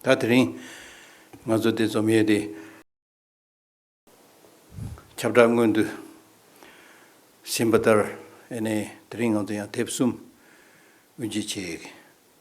ད་དེ་རིང་ང་ཚོ་དེ་འཛོམས་ཡོད་དེ། ཁྱབ་བསྒྲགས་སྔོན་དུ་ཟིན་པ་ལྟར་ཨེ་ནས་དེ་རིང་ང་ཚོ་ཡང་དེབ་གསུམ་དབུ་འབྱེད་བྱེད།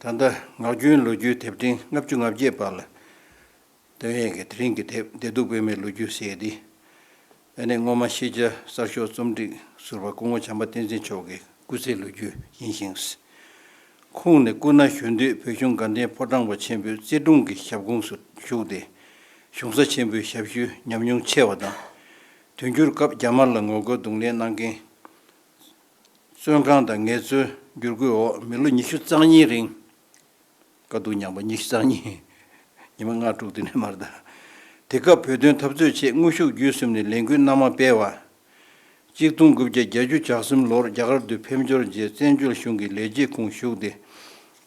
ད་ལྟ་ངག་རྒྱུན་ལོ་རྒྱུས་དེབ་ཕྲེང་ལྔ་བཅུ་ང་བརྒྱད་པ་ལ་དོན་ཡོད་ཀྱི་དེ་རིང་གི་དེབ་བདེ་སྡུག་སྤེལ་མའི་ལོ་རྒྱུས་ཟེར་འདི་ཨ་ནེ་སྔོན་མ་ཤེས་བྱ་གསར་ཤོག་རྩོམ་སྒྲིག་ཟུར་པ་སྐུ་ངོ་བྱམས་པ་བསྟན་འཛིན་མཆོག་གི་སྐུ་ཚེའི་ལོ་རྒྱུས་ཡིན་ཞིང། ཁོང་ནི་སྐུ་ན་གཞོན་དུས་བོད་གཞུང་དགའ་ལྡན་ཕོ་བྲང་པ་ཆེན་པོའི་བརྩེ་དུང་གི་ཞབས་ཁུངས་སུ་ཞུགས་ཏེ། གཞུང་ས་ཆེན་པོའི་ཞབས་ཞུའི་ཉམས་མྱོང་ཆེ་བ་དང། དུས་འགྱུར་སྐབས་རྒྱ་དམར་ལ་ངོ་རྒོལ་རྡུང་ལེན་གནང་རྐྱེན། བཙོན་ཁང་དང་ངལ་རྩོལ་བསྒྱུར་བཀོད་འོག་མི་ལོ་ཉི་ཤུ་རྩ་གཉིས་རིང། དཀའ་སྡུག་མྱངས་པ་ཉི་ཤུ་རྩ་གཉིས། ཉི་མ་ལྔ་དྲུག་དེ་ནས་མར་དར། དེ་སྐབས་བོད་དོན་འཐབ་རྩོད་ཆེད་དངོས་ཤུགས་བརྒྱུད་གསུམ་ནས་ལས་འགུལ་སྣ་མང་སྤེལ་བ། གཅིག་སྟོང་དགུ་བརྒྱ་གྱ་གཅུ་ཇག་གསུམ་ལོར་རྒྱ་གར་དུ་ཕེབས་འབྱོར་རྗེས་བཙན་བྱོལ་གཞུང་གི་ལས་བྱེད་ཁུངས་ཞུགས་ཏེ་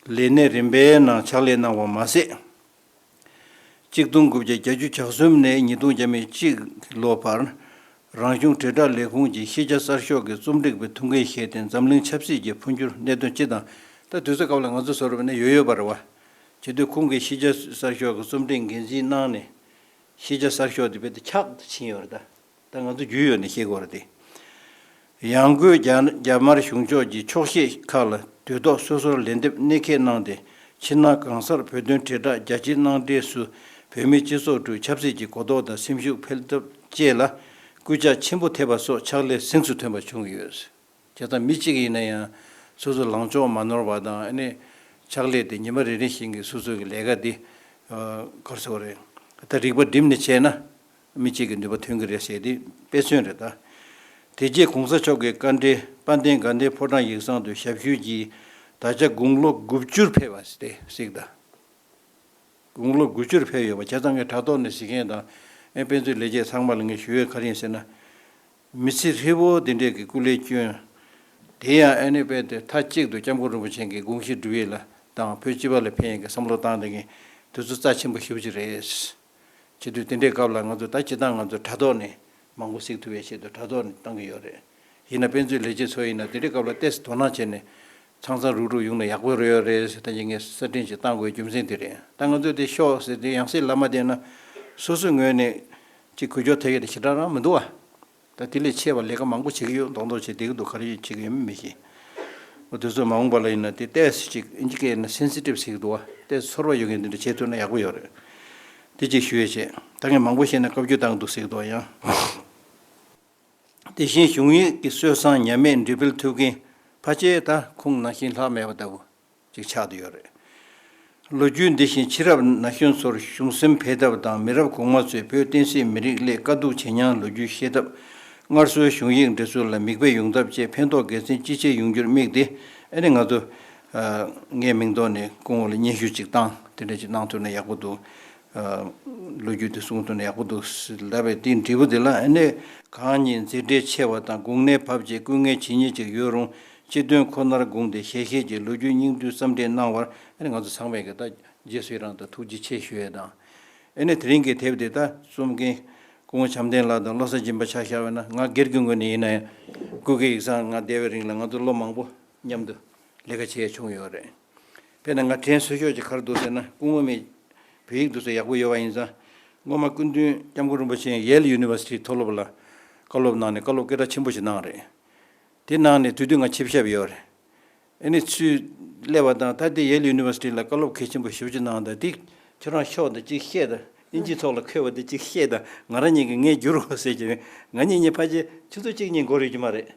ལས་གནས་རིམ་པའི་ནང་ཕྱག་ལས་གནང་བ་མ་ཟད། གཅིག་སྟོང་དགུ་བརྒྱ་གྱ་གཅུ་ཇག་གསུམ་ནས་ཉིས་སྟོང་གྱ་མེད་གཅིག་ལོ་བར་རང་གཞུང་དྲིལ་བསྒྲགས་ལས་ཁུངས་ཀྱིས་ཤེས་བྱ་གསར་ཤོག་གི་རྩོམ་སྒྲིག་པའི་ཐུགས་འགན་བཞེས་ཏེ་འཛམ་གླིང་ཆབ་སྲིད་ཀྱི་འཕོ་འགྱུར་གནད་དོན་སྤྱི་དང། ད་དུས་ཚོད་སྐབས་ལ་ང་ཚོ་ཟེར་བ་ནི་ཡོད་ཡོད་པ་རེད་བ། བྱེད་དུས་ཁོང་གིས་ཤེས་བྱ་གསར་ཤོག་གི་རྩོམ་སྒྲིག་འགན་འཛིན་གནང་ནས། ཤེས་བྱ་གསར་ཤོག་དེ་རྦད་དེ་འཁྱག་ཏུ་ཕྱིན་ཡོད་རེད་ད། ད་ང་ཚོ་རྒྱུས་ཡོད་ནས་ཤེས་དགོས་རེད་དེ། ཡང་སྒོས་རྒྱ་དམར་གཞུང་ཕྱོགས་ཀྱི་ཆོག་ཤེས་ཁག་ལ་དུས་ཐོག་སོ་སོར་ལན་འདེབས་གནད་འཁེལ་གནང་སྟེ་ཕྱི་ནང་གང་སར་བོད་དོན་དྲིལ་བསྒྲགས་རྒྱ་ཆེ་གནང་འབྲས་སུ་བོད་མི་སྤྱི་ཚོགས་ཁྲོད་ཆབ་སྲིད་ཀྱི་གོ་རྟོགས་དང་སེམས་ཤུགས་འཕེལ་ཐབས་བཅས་ལ་སྐུལ་ལྕག་ཆེན་པོ་ཐེབས་པ་སོགས་ཕྱག་ལས་གཟེངས་སུ་ཐོན་པ་བྱུང་ཡོད། དེ་དང་མི་གཅིག་ཡིན་ན་ཡང་སོ་སོའི་ལངས་ཕྱོགས་མ་ནོར་བ་དང་ཕྱག་ལས་དེ་ཉིན་མ་རེ་རེ་བཞིན་གྱི་སོ་སོའི་ལས་ཀ་དེ་གར་སོང་རེད་ད་རིག་པ་བསྒྲིམས་ནས་བྱས་ན། མི་གཅིག་གི་ནུས་པ་ཐོན་གྱི་རེད་ཟེར་དེ་དཔེ་མཚོན་རེད་ད། དེ་རྗེས་གོང་ས་མཆོག་གི་བཀའ་འབྲེལ་དཔལ་ལྡན་དགའ་ལྡན་ཕོ་བྲང་ཡིག་ཚང་དུ་ཞབས་ཞུ་གྱིས་ད་ཆ་དགུང་ལོ་དགུ་བཅུར་ཕེབས་པ་རེད་གཟིགས་ད། དགུང་ལོ་དགུ་བཅུར་ཕེབས་ཡོད་པ་བྱས་ཙང་ངས་དྲ་ཐོག་ནས་གཟིགས་མཁན་དང་དཔེ་མཛོད་ལས་བྱེད་ཚང་མ་ལ་ངས་ཞུ་ཡོད་ག་རེ་ཟེར་ན། མི་ཚེ་ཧྲིལ་བོ་འདི་འདྲས་ཀྱི་སྐུ་ལས་བསྐྱོན། དེ་ཡང་ཨ་ནེ་དཔལ་དེ་མཐའ་གཅིག་ཏུ་སྐྱབས་མགོན་རིན་པོ་ཆེན་གྱི་དགོངས་གཞི་སྒྲུབ་ཡས་ལ་དང་བོད་སྤྱི་བ་ལ་ཕན་ཡས་ཀྱི་བསམ་བློ་བཏང་དེ་ངས་དེ་ཚོ་རྩ་ཆེན་པོ་ཞུ་བྱེད་རེད། བྱེད་དུས་དེ་འདྲའི་སྐབས་ལ་ང་ཚོས་ད་ཇི་ལྟར་ང་ཚོས་དྲ་ཐོག་ནས་མང་པོ་གཟིགས་ཐུབ་པའི་ཆེད་དུ་དྲ་ཐོག་ནས་བཏང་གི་ཡོད་རེད། ཡིན་ན་དཔེ་མཛོད་ལས་བྱེད་ཚོ་ཡིན་ན་དེ་འདྲའི་སྐབས་ལ་ལྟས་སུ་དོ་སྣང་བྱས་ནས། ཚང་ཚང་རུག་རུག་ཡོང་ན་ཡག་པོ་རེད་ཡོད་རེད་ཟེར་ཐལ་གྱི་ངས་གསར་སྐྲུན་ཞིག་བཏང་དགོས་རྒྱུ་མཚན་དེ་རེད་ད་ང་ཚོས་དེ་ཤོག་ཟེར་དུས་ཡང་སྲིད་ལ་མ་བསྡད་ན། སོ་སོའི་ངོས་ནས་ཅིག་གུ་ཅོ་ཐལ་གྱི་དེ་ཞེ་དྲག་རང་མི་འདུག་ཨ། ད་དེ་ལས་ཆེ་བ་ལས་ཀ་མང་པོ་བྱེད་ཀྱི་ཡོད་མདོག་མདོག་བྱེད་བསྡད་ཀྱི་འདུག་ག་རེ་བྱེད་ཀྱི་ཡོད་མེད་མི་ཤེས། འོ་དེ་ཚོ་མ་འོངས་པ་ལ་ཡིན་ན་དེ་ལྟས་སུ་ཅིག་ཨིན་ཇི་སྐད་ན Sensitive ཟེར་གྱི་འདུག་བ་ལྟས་སུ་ཚོར་བ་ཡོད་མཁན་དེ་འདྲ་བྱེད་ཐུབ་ན་ཡག་པོ་ཡོད་རེད། དེ་ཅིག་ཞུ་ཡས་བྱས་ད་ངས་མང་པོ་བཤད་ན་བཀའ་བརྒྱུད་བཏང་གི་འདུག་ཟེར་གྱི་འདུག་བ་ཡང། དེ་བཞིན་གཞུང་ཡིག་གི་སྲོལ་བཟང་ཉམས་མེད་འབྲི་སྤེལ་ཐུབ་མཁན་ཕ་ཆེ་ད་ཁུངས་ནང་བཞིན་ལྷག་མེད་པ་ལྟ་བུ། ཅིག་ཆགས་ཀྱི་ཡོད་རེད། ལོ་རྒྱུས་འདི་བཞིན་ཕྱི་རབས་ན་གཞོན་ཚོར་གཞུང་སེམས་འཕེལ་ཐབས་དང་མི་རབས་གོང་མ་ཚོས་བོད་བསྟན་སྲིད་མི་རིགས་སླད་དཀའ་སྡུག་ཇེ་མྱངས་ལོ་རྒྱུས་ཤེས་ཐབས། སྔར་སྲོལ་གཞུང་ཡིག་འབྲི་ཚུལ་ལ་མིག་དཔེ་ཡོང་ཐབས་བཅས་ཕན་ཐོགས་དགེ་མཚན་ཅི་ཆེ་ཡོང་རྒྱུར་དམིགས་ཏེ་ཨ་ནི་ང་ཚོ། ངའི་མིང་ཐོག་ནས་སྐུ་ངོ་ལ་སྙན་ཞུ་ཅིག་བཏང་དེ་འདྲ་ཅིག་གནང་ཐུབ་ན་ཡག་པོ་འདུག་ལོ་རྒྱུས་དེ་གསུང་དོན་ཡག་པོ་འདུག་ཟླ་བའི་སྟེང་འབྲས་བུ་དེ་ལ་ཨེ་གནས་གང་ཉིད་མཛེས་སྤྲས་ཆེ་བ་དང་དགུང་ནད་བབས་རྗེས་སྐུ་ངལ་ཇི་སྙེད་ཅིག་ཡོད་རུང་སྤྱི་དོན་ཁོ་ནར་དགོངས་ཏེ་ཞལ་ཤེས་ཀྱི་ལོ་རྒྱུས་སྙིང་བསྡུས་བརྩམས་འབྲི་གནང་བར་ཨེ་ནས་ང་ཚོ་ཚང་མས་ད་རྗེས་སུ་ཡི་རང་དང་ཐུགས་རྗེ་ཆེ་ཞུ་ཡས་དང། ཨེ་ནས་དེ་རིང་གི་དེབ་དེ་དག་རྩོམ་མཁན་སྐུ་ངོ་བྱམས་ལྡན་ལགས་དང་བློ་གསར་སྦྱིན་པ་ཕྱག་ཞར་བས་ན་ང་སྒེར་གྱི་ངོས་ནས་ཡིན་ན་ཡང་སྐུ་སྒེར་ཡིག་ཚང་ང་བསྡད་པའི་རིང་ལ་ང་ཚོ་བློ་མང་པོ་མཉམ་དུ་ལས་ཀ་བྱས་ཡས་བྱུང་ཡོད་རེད། དཔེར་ན་ང་དྲན་གསོལ་ཤོག་ཅིག་གར་འདུག་ཟེར་ན་སྐུ་ངོ་མས། བོད་ཡིག་འདུག་ཚེ་ཡག་པོ་ཡོད་པ་ཡིན་ཙང། སྔོན་མ་སྐུ་མདུན་སྐྱབས་མགོན་རིན་པོ་ཆེ Yale University མཐོ་སློབ་ལ་བཀའ་སློབ་གནང་ནས་བཀའ་སློབ་སྐད་གྲགས་ཆེན་པོ་ཞིག་གནང་རེད། དེ་གནང་ནས་དུས་དུས་ང་ཆིབས་ཞབས་ཡོད་རེད། ཨེ་ནི་ཚུལ་ཀླད་པ་དང་ད་ལྟའི Yale University ལ་བཀའ་སློབ་གལ་ཆེན་པོ་ཞིབ་ཅིག་གནང་ད་དེ་ཁྱོད་རང་ཤོག་ད་ཅིག་བཤད་ད་དབྱིན་ཇིའི་ཐོག་ལ་འཁོད་པ་དེ་ཅིག་ཤེས་དང་ང་རང་ཉིད་ཀྱིས་ངས་བསྒྱུར་དགོས་ཟེར་གྱི་རེད། ང་ཉིད་ཉིད་ཕར་ཆེར་ཆུ་ཚོད་གཅིག་གཉིས་འགོར་ཡོད་ཀྱི་མ་རེད།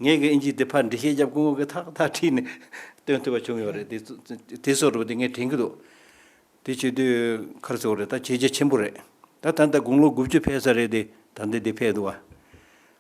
ངས་ཀྱང་དབྱིན་ཇི་དེ་ཕར་འབྲི་ཤེས་རྒྱབ་ཀུན་གོ་གི་ཐག་ཐག་ཁྲིད་ནས་སྟོན་ཐུབ་པ་བྱུང་ཡོད་རེད། དེ་སོགས་རེད་པ་དེ་ངས་དྲན་གྱི་འདུག་དེ་བྱེད་དུས་ཁར་ཚོར་རེད་ད་བྱས་རྗེས་ཆེན་པོ་རེད། ད་ད་ལྟ་དགུང་ལོ་དགུ་བཅུ་ཕེབས་ས་རེད་དེ་ད་ལྟ་དེ་ཕེབས་འདུག་ཨ།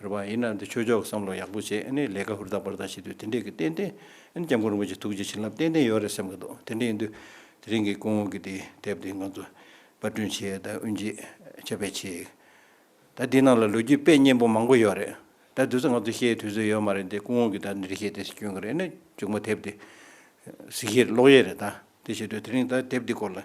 རེད་བ་ཡིན་ན་འདི་ཆོས་ཕྱོགས་ཀྱི་བསམ་བློ་ཡག་པོ་བྱེད་ཨ་ནི་ལས་ཀ་ཧུར་ཐག་པར་ཐག་བྱེད་དུས་དེ་འདྲས་ཀྱི་ཏན་ཏན་ཨ་ནི་སྐྱབས་མགོན་རིན་པོ་ཆེ་ཐུགས་རྗེ་བྱིན་རླབས་ཏན་ཏན་ཡོད་རེད་སེམས་ཀྱི་འདུག་དེ་འདྲས་ཡིན་དུས་དེ་རིང་གི་སྐུ་ངོ་གི་དེ་དེབ་དེ་ང་ཚོ་པར་སྐྲུན་བྱས་ད་དབུ་འབྱེད་ཆ་བེད་ཆེ་ད་དེའི་ནང་ལ་ལོ་རྒྱུས་དཔེ་སྙན་པོ་མང་པོ་ཡོད་རེད་ད་དུས་ཚོད་ང་ཚོ་ཤེས་དུས་ཚོད་ཡོད་མ་རེད་འདི་སྐུ་ངོ་གི་ད་འདི་འདྲས་བྱས་དེ་སྐྱོན་གི་རེད་ཨ་ནི་མཇུག་མ་དེབ་དེ་གཟིགས་ཤེས་རེད་ཀློག་ཤེས་རེད་ད་དེ་བྱེད་དུས་དེ་རིང་ད་དེབ་དེ་སྐོར་ལ།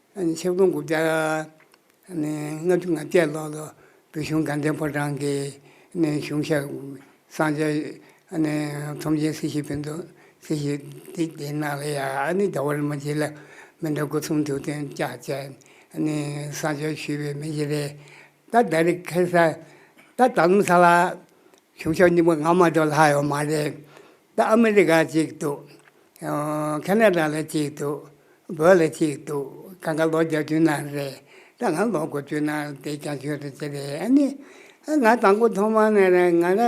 ཆིག་སྟོང་དགུ་བརྒྱ་ལྔ་བཅུ་ང་བརྒྱད་ལོར་ལོ་བོད་གཞུང་དགའ་ལྡན་ཕོ་བྲང་གི་གཞུང་ཞབས་སངས་རྒྱས་ཚོམས་ཆེན་སྲིད་ཞིའི་བོན་སྟོན་སྲིད་ཞིའི་སྡེ་དགེ་ནགས་ལ་ཡ་ནི་རྒྱ་བོད་ལ་མ་བྱེད་ལ་མི་འདྲ་སྐུ་གསུང་ཐུགས་རྟེན་བཅའ་བཅས་སངས་རྒྱས་ཞུས་པའི་མི་བཞི་རེ་ད་ལྟ་རི་ཁལ་ས་ད་ད་ལམ་ས་ལ་གཞུང་ཞབས་རྙིང་པ་ང་མ་གཏོགས་ལྷག་ཡོད་མ་རེད། ད་ཨ་མི་རི་ཀ་གཅིག་འདུག། ཁ་ནཱ་ཏྲ་ལ་གཅིག་འདུག། བོད་ལ་གཅིག་འདུག། ག་ག་ལོ་བརྒྱ་བཅུ་ནང་རེད། ད་ང་ལོ་གོ་བཅུ་ནང་རེད་དེ་ཀྱང་ཆོས་རེད་ཅེས་རེད་ཨ་ནི། ང་དང་པོ་ཐོག་མ་ནས་ར་ང་ར་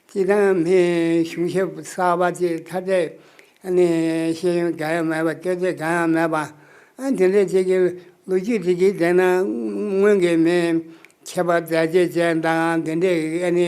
སྤྱི་བཏང་མིའི་གཞུང་ཞབས་གསར་པ་ཅིག་ཐ་དད་ཨ་ནི་ཤེས་ཡོན་འགའ་ཡང་མེད་པ་སྐད་ཆ་འགའ་ཡང་མེད་པ། དེ་འདྲའི་ཅིག་གི་ལོ་རྒྱུས་དེ་གིས་བདེན་ན་སྔོན་གྱི་མིའི་ཁྱད་པར་མཛད་རྗེས་ཅན་དང་འདི་འདྲའི་ཨ་ནི་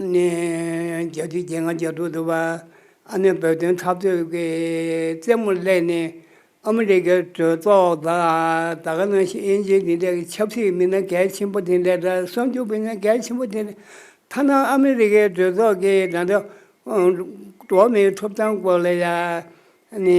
ནས། རྒྱལ་སྤྱིའི་རྒྱལ་ཁང་རྒྱལ་ཐོག་ཏུ་བ་ཨ་ནི་བོད་དོན་འཐབ་རྩོད་ཀྱི་རྩེད་མོ་བསླས་ནས་ཨ་མི་རི་ཀའི་གྲོས་ཚོགས་དང་ད་ག་ནང་བཞིན་དབྱིན་ཇིའི་འདི་འདྲ་གི་ཆབ་སྲིད་མི་སྣ་གལ་ཆེན་པོ་དེ་འདྲ་དང་གསོན་རྒྱུགས་མི་སྣ་གལ་ཆེན་པོ་དེ་འདྲ་ཐ་ན་ཨ་མི་རི་ཀའི་གྲོས་ཚོགས་ཀྱི་ད་ལྟ་འགྲོ་མིའི་ཐོབ་ཐང་སྐོར་ལ་ཡང་ནི།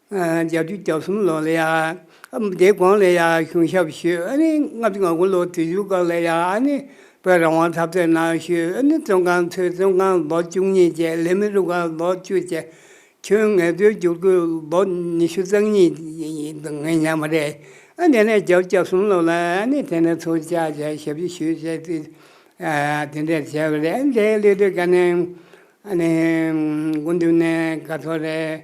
བརྒྱ་བཅུ་གྱ་གསུམ་ལོ་ལ་ཡང་སྡེ་དགོན་ལ་ཡང་གཞུང་ཞབས་ཞུས་ཨ་ནི་ལྔ་བཅུ་ང་དགུ་ལོ་དུས་འཇུག་སྐབས་ལ་ཡང་ཨ་ནི་བོད་རང་དབང་འཐབ་རྩོད་ནང་ཞུས་ཨ་ནི་བཙོན་ཁང་ཚུད་བཙོན་ཁང་ལོ་བཅུ་གཉིས་བཅད་ལས་མི་རུ་ཁག་ལོ་བཅུ་བཅད། ཁྱོན་ངལ་རྩོལ་བསྒྱུར་བཀོད་ལོ་ཉི་ཤུ་རྩ་གཉིས་འདུག་ངས་ཉམས་མ་རེད་ཨ་དེ་ནས་བརྒྱ་བཅུ་གྱ་གསུམ་ལོ་ལ་ཨ་ནི་དེ་ནས་ཚུར་བཅར་བྱས་ཞབས་ཕྱི་ཞུས་བྱས་དུས་དེ་འདྲས་བྱས་པ་རེད་ཨ་ནི་དེའི་སླད་དུ་དགའ་ནས་ཨ་ནི་དགུན་དུས་ནས་དགའ་ཚོར་རེད།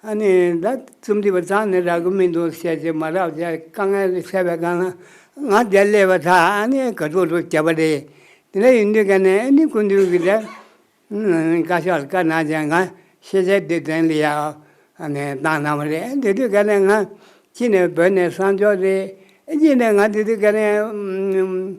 ཨ་ནི་ད་རྩོམ་འདི་བ་ཙང་ནས་རག་གི་མི་འདུག་བཤད་རྒྱུ་མ་རག་བྱས་དཀའ་ངལ་ལས་བཤད་པའི་སྒང་ལ་ང་བརྒྱ་ཀླས་པ་ཐག་ཨ་ནི་ག་ཚོད་ཚོད་བྱས་པ་རེད། དེ་འདྲ་ཡིན་དུས་ག་ནས་ཨ་ནི་ཀུན་འདུས་ཀྱི་དྲན་བཀའ་ཤག་ལ་བཀའ་གནང་བྱས་ང་ཤེས་བྱའི་སྡེ་ཚན་ལ་ཡང་ཨ་ནི་བཏང་གནང་བ་རེད་དེ་དུས་ག་ནས་ང་ཅི་ནས་བོད་ནས་གསང་མཆོག་རེད་ཨེ་ཅི་ནས་ང་དེ་དུས་ག་ནས།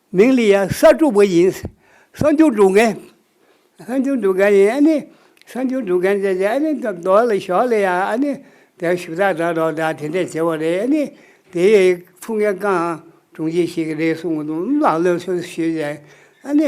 མིང་ལི་ཡཱ་གསར་སྒྲུབ་པ་ཡིན། གསར་འགྱུར་སྒྲུབ་མཁན། གསར་འགྱུར་སྒྲུབ་མཁན་ཡིན་ཨ་ནི། གསར་འགྱུར་སྒྲུབ་མཁན་བཅས་ཀྱིས་ཨ་ནི། མདོ་ལ་ཞོག་ལི་ཡཱ་ཨ་ནི། དེར་ཞུ་དག་དྲ་གྲོགས་དག་དེ་འདྲས་བྱེད་པ་རེད་ཨ་ནི། དེའི་ཐུགས་འགན་རྐང་གྲུང་ཅན་ཞིག་རེད་གསུངས། ལག་ལེན་སུས་ཞུས་ཀྱང་ཨ་ནི།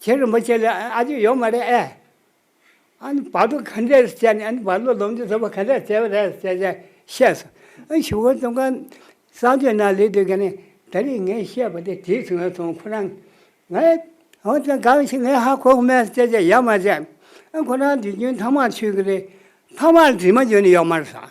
ཁྱེད་རིན་པོ་ཆེ་ལ་ཨ་ཅེ་ཡོད་མ་རེད་ཨེ། ཨ་ནི་བག་དྲོ་ག་འདྲས་སུ་བྱས་ནས་ཨ་ནི་བག་ལོ་ལོ་འདི་ཟོས་པ་ག་འདྲས་བྱས་པ་རེད་ཟེར་བྱས་ནས་བཤད་སོང། ཨ་ཞུ་བོ་ཙོང་ཁ་གསང་སྤྱོད་ནང་ལས་དུས་ག་ནས་ད་རེས་ངས་བཤད་པ་དེ་དྲིས་སོང་བས་སོང་ཁོ་རང། ངས་ཨོ་དེ་གང་ཞིག་ངས་ཧ་གོ་གི་མེད་ཟེར་བྱས་ནས་ཡ་མ་བྱས། ཨ་ཁོ་རང་དུས་རྒྱུན་ཐང་མར་ཆུད་ཀྱི་རེད། ཐང་མར་དྲི་མ་འཇོན་ནི་ཡོད་མ་རེད་ཟེར།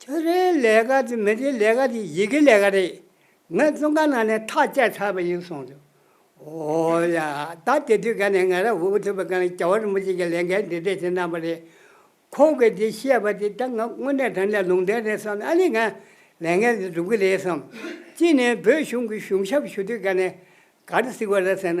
ཁྱོད་རའི་ལས་ཀ་དེ་མི་དེའི་ལས་ཀ་དེ་ཡི་གེའི་ལས་ཀ་རེད། ངས་བཙོན་ཁང་ནང་ནས་ཐག་བཅད་ཚར་བ་ཡིན་གསུངས་འདུག་འོ་ཡ། ད་དེ་དུས་ཀ་ནས་ང་རང་འུ་ཐུག་པའི་སྐབས་ནས་རྒྱ་བོད་རིན་པོ་ཆེ་ཀྱི་ལས་འགན་འདི་འདྲས་དེ་གནང་བ་རེད། ཁོང་གིས་དེ་བཤད་པ་དེ་ད་ང་དངོས་གནས་དྲན་ནས་ལུང་བསྟན་རེད་བསམ་ནས་ཨ་ནི་ང་ལས་འགན་འདི་སྒྲུབ་གི་རེད་བསམ། གཅིག་ནས་བོད་གཞུང་གི་གཞུང་ཞབས་ཞུ་དུས་ཀ་ནས་ག་རེ་གཟིགས་བ་རེད་ཟེར་ན་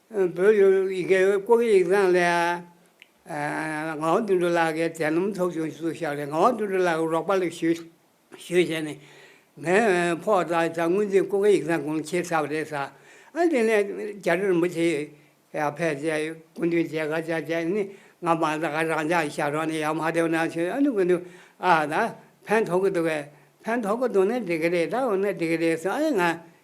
བོད་ཡུལ་ཡི་གེ་ཀོའུ་ཡིག་ཚང་ལས། ངག་དབང་དོན་གྲུབ་ལགས་ཀྱིས་དད་སྣུམ་ཚོགས་ཆུང་ཞིག་བཞག་ནས་ངག་དབང་དོན་གྲུབ་ལགས་ཀྱི་རོགས་པ་ལས་ཞུས་བྱས་ནས། ངའི་ཕོག་ཐག་ད་དངུལ་འཛིན་ཀོའུ་ཡིག་ཚང་གོང་ཁྱེར་ཚར་བ་རེད་ས། ཨ་དེ་ནས་རྒྱ་རིར་མི་ཆེ་ཡག་ཕལ་ཆེ་སྐུ་མདུན་མཇལ་ཁ་བྱ་བྱས་ནས་ང་མ་ད་ག་རང་ཅག་ཞབས་རོགས་ནས་ཡག་མ་བསྡད་ན་ཆོས་ཨ་ནུ་ཀུན་ཏུ་ཨ་ད་ཕན་ཐོག་གི་འདུག་གས་ཕན་ཐོག་གི་འདུག་ན་འགྲིག་གི་རེད་ད་འོ་ན་འགྲིག་གི་རེད་ས་ཨ་ཡེ་ང་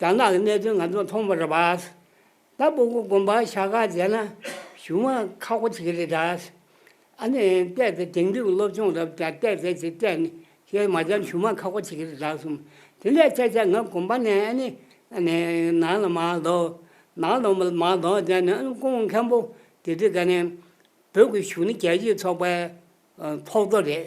རྒྱ་ནག་གི་གནད་དོན་ང་ཚོ་མཐོང་པར་བྱས། ད་སྤོ་སྒོ་དགོན་པར་ཤ་ཁ་མཇལ་ན་གཞུང་མ་ཁག་པོ་ཆེ་གི་རེད་དྲ། ཨ་ནི་བལྟས་ཚེ་དེང་དུས་ཀྱི་སློབ་སྦྱོང་རབ་ཀྱང་བལྟས་ཚེ་ཆེ་བལྟས་ནི་ཞེས་མ་སྦྱར་གཞུང་མ་ཁག་པོ་ཆེ་གི་རེད་དྲ་གསུངས། དེ་ལས་ཁྱེད་ཅག་ང་དགོན་པ་ནས་ཨ་ནི་ཨ་ནི་ནང་ལ་མ་ལྡོག། ནང་ལ་མ་ལྡོག་བསྡད་ནས་ཨ་ནི་སྐུ་ངོ་མཁན་པོ་དེ་དྲི་ག་ནས། བོད་ཀྱི་གཞུང་ནི་རྒྱལ་སྤྱིའི་ཚོགས་པའི་ཐོག་རྡོ་རེད།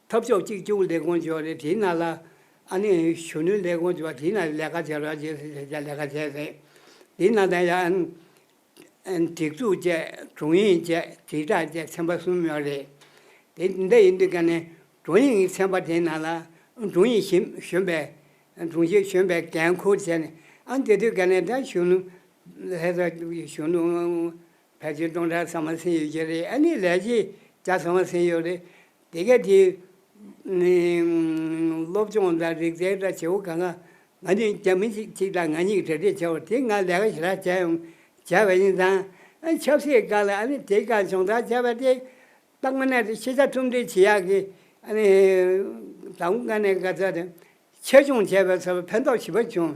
འཐབ་ཕྱོགས་གཅིག་གྱུར་ལས་ཁུངས་ཀྱི་ལས་བྱེད་རྣམས་ལ། ཨ་ནེ་གཞོན་ནུའི་ལས་ཁུངས་ཀྱི་བྱེད་རྣམས་ལས་ཀ་བྱེད་རོགས་ཞེས་ཞུ་བྱ་ལས་ཀ་བྱས་ཟིན། དེའི་ནང་དང་ཡང། སྒྲིག་འཛུགས་བཅས་དྲུང་ཡིག་བཅས་དྲིལ་བསྒྲགས་བཅས་ཚན་པ་གསུམ་ཡོད་རེད། དེ་འདི་ཡིན་དུས་ཀ་ནས་དྲུང་ཡིག་ཚན་པ་དེའི་ནང་ལ་དྲུང་ཡིག་གཞན་གཞོན་པའི། དྲུང་ཞིག་གཞོན་པའི་འགན་འཁུར་བྱས་ནས་ཨ་འདི་དུས་ཀ་ནས་ད་གཞོན་ནུ། ལྷས་ས་གཞོན་ནུ། ཕལ་ཆེར་སྟོང་ཕྲག་ཚང་མ་ཟིན་ཡོད་ཀྱི་རེད་ཨ་ནི་ལས་བྱེད་བརྒྱ་ཚང་མ་ཟིན་ཡོད་རེད། དེ་ག་དེ། སློབ་སྦྱོང་དང་རིག་རྩལ་འདྲ་བྱེད་པོ་གང་གང། ང་ནི་རྒྱ་མི་གཅིག་གཅིག་དང་ང་གཉིས་གྲ་སྒྲིག་བྱ་བ་དེ་ང་ལས་ཀ་ཞེ་དྲག་བྱས་ཡོང། བྱས་པ་ཡིན་ཙང། ཆབ་སྲིད་བཀག་ལ་ཨ་ནི་དེ་ག་སྦྱོང་བརྡར་བྱས་པ་དེ། སྟག་མ་ནས་ཤེས་བྱ་ཁྲོམ་སྒྲིག་བྱེད་ཡག་གི། ཨ་ནི། དང་པོ་ཀ་ནས་ག་ཚད་དེ། ཆེད་སྦྱོང་བྱས་པས་ཚོར་བ་ཕན་ཐོགས་ཞིབ་པ་བྱུང།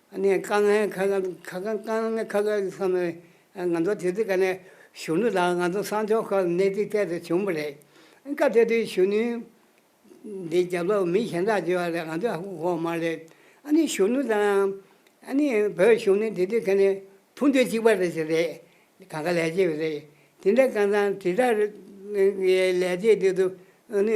ཨ་ནེ་ཀ་ནེ་ཁ་ཁ་ཁ་ཁ་ཁ་ནེ་ཁ་ཁ་བསམ་ནས་ང་ཚོ་དེ་དུས་ཀ་ནེ་གཞོན་ནུ་དང་ང་ཚོ་སངས་ཕྱོགས་ཁག་གནས་ཚིག་ཐད་དུ་བྱུང་བ་རེད། སྐབས་དེ་དུས་གཞོན་ནུའི་འདི་རྒྱབ་ལོག་མི་གཞན་དག་བརྗོད་པ་ལས་ང་ཚོ་འོག་མ་རེད། ཨ་ནེ་གཞོན་ནུ་དང་ཨ་ནེ་བོད་གཞུང་ནི་དེ་དུས་ཁ་ནེ་ཕུ་འདུན་གཅིག་པ་རེད་ཟེར་རེད། ག་ག་ལས་བྱེད་རེད། དེ་འདྲ་ཀ་ཚང་དེ་དག་གི་ལས་བྱེད་དེ་དུ་ཨ་ནེ།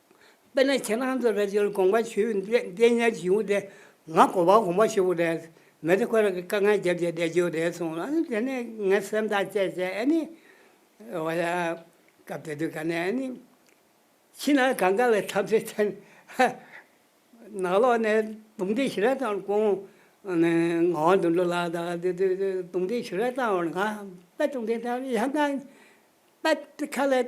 དཔེར་ན་ཁྱེད་རང་ཚོ་རེ་ཅོལ་དགོངས་པ་ཞུས་བསྡད་ཉལ་གྱི་བྱུང་སྟེ། ང་གོ་བ་གོང་མ་ཞུ་བོ་རེད། མི་ཚེ་ཁོ་རང་གི་དཀའ་ངལ་རྒྱབ་ཀྱི་བསྡད་རྒྱུ་རེད་གསུངས། ཨ་ནི་དེ་ནས་ངས་སེམས་ཐག་བཅད་བཅད་ཨེ་ནི། འོ་ཡ། སྐབས་དེ་དུས་ག་ནས་ཨེ་ནི། ཕྱི་ནང་གང་ག་ལ་འཐབ་རྩོད་བྱས་ནས། ནག་ལོག་ནས་རྡུང་རྡེག་ཞུ་རན་བཏང་བར་ཀོང། ངག་དབང་དོན་འགྲུབ་ལགས་དང་དེ་དུས་རྡུང་རྡེག་ཞུ་རན་བཏང་བར་ང་དཔལ་སྟོང་ལྡན་དང་ཡང་དང། དཔལ་ཁ་ལས།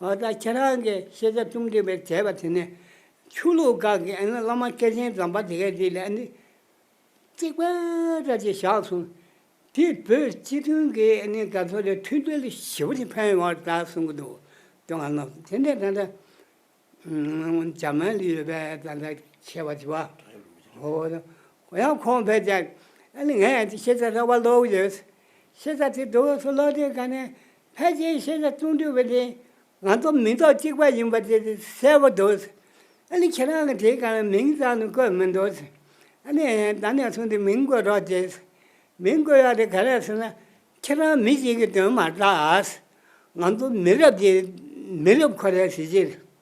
ཨོ་ད་ཁྱེད་རང་གིས་ཤེས་བྱ་རྩོམ་སྒྲིག་པའི་བྱས་པ་དེ་ནི། ཆོས་ལུགས་དགག་གི་ཨ་ནི་བླ་མ་སྐལ་ཆེན་ཛམ་པ་དེ་གས་དེ་ལས་ཨ་ནི། རྩིག་པ་འདྲ་ཅིག་བཞག་སོང། དེས་བོད་སྤྱི་མཐུན་གྱི་ཨ་ནི་དགའ་ཚོར་ལས་མཐུན་སྒྲིལ་ཞི་བ་ཅིག་འཕེལ་ཡོང་བར་གདའ་གསུང་གི་འདུག་དེ་ང་ནོ་དེ་འདྲ་འདྲ་འདྲ། འཇར་མན་ལི་ཡོད་པའི་ད་ལྟ་ཁྱེད་བ་ཅི་བ། ཧོ། ཡང་ཁོང་བས་ཀྱང་ཨ་ནི་ངས་ཤེས་བྱ་ར་བ་ཀློག་ཡོད། ཤེས་བྱ་དེ་བསྡུ་བ་སུ་ཀློག་དེ་ག་ནས་ཕལ་ཆེར་ཤེས་བྱ་བཅུ་འདུས་པ་དེ་ང་རྟོག་མི་རྟོག་གཅིག་པ་ཡིན་པ་དེ་གསལ་བོ་འདུག། ཨ་ནི་ཁྱེད་རང་གི་དེ་ག་ལ་མིང་ཙམ་ནི་བཀོད་མི་འདུག། ཨ་ནི་ད་ནས་བཟུང་སྟེ་མིང་བཀོད་རོགས་ཀྱིས། མིང་བཀོད་ཡག་དེ་ག་རེད་ཟེར་ན། ཁྱེད་རང་མི་གཅིག་གི་དོན་མ་གཏགས། ང་ཚོ་མི་རབས་ཀྱི་མི་རབས་ཁོ་རེ་ཟེར་གྱི།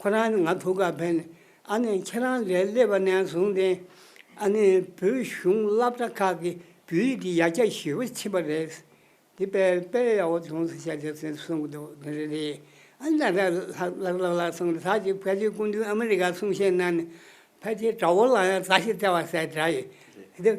ཁོ་རང་ནི་ང་ཐུགས་ཀར་ཕན་ནས་ཨ་ནི་ཁྱེད་རང་ལས་སླེབས་པ་ནས་བཟུང་སྟེ། ཨ་ནི་བོད་གཞུང་བླ་བྲ་ཁག་གི་བོད་ཡིག་གི་ཡ་གྱལ་ཞེ་བོ་ཕྱིན་པ་རེད། དེ་དཔལ་དཔལ་ཡག་པོ་ལྗོངས་སུ་བྱ་ཆོག་ཟེར་གསུངས་འདུག་དེ་འདྲ་རེད། ཨ་ནི་ད་ལྟ་ལགས་ལགས་ལགས་གསུངས་ཏེ་ད་ཅིག་ཕལ་ཆེར་སྐུ་མདུན་ཨ་མི་རི་ཀ་གསུང་བཤད་གནང་ནས་ཕལ་ཆེར་དགྲ་བོ་ལ་ཡང་བཟའ་ཞིག་སྟེར་བ་ཟེར་གྲ་ཡིན།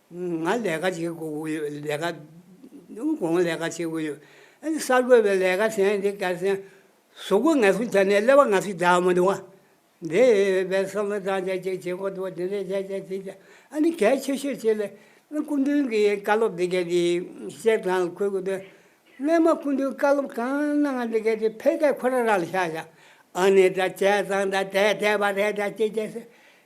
ང་ལས་ཀ་བྱེད་དགོས་དགོས་ཡོད་ལས་ཀ། གོང་ལས་ཀ་བྱེད་དགོས་ཡོད། ཨ་ཅེ་གསར་འགོད་པས་ལས་ཀ་བྱས་འདི་ག་བྱས། ཟོག་གོ་ངལ་གསོ་བྱས་ནས་ཀླད་པ་ང་སྲིད་དྲ་བ་མི་འདུག་ཨ། འདི་བས་བསམ་བློ་བཏང་བྱས་ཅིག་བྱེད་དགོས་འདུག་འདི་འདྲས་བྱས་བྱས་བྱས་བྱས་ཨ་ནི་གལ་ཆེ་ཤོས་བྱས་ལས། སྐུ་མདུན་གྱི་བཀའ་སློབ་འདི་གའི་དེ་བཤད་སྟངས་ལ་འཁོད་དགོས་དོན། སླད་མ་སྐུ་མདུན་བཀའ་སློབ་གང་གནང་ང་འདི་གའི་དེ་ཕལ་སྐད་ཁོ་ར་ར་ལ་བཞག་བཞག་ཨ་ནི་དྲ་བྱས་ཙང་དྲ་བསྡད་བསྡད་པ་རེད་དྲ་བྱས་བྱས་བྱས།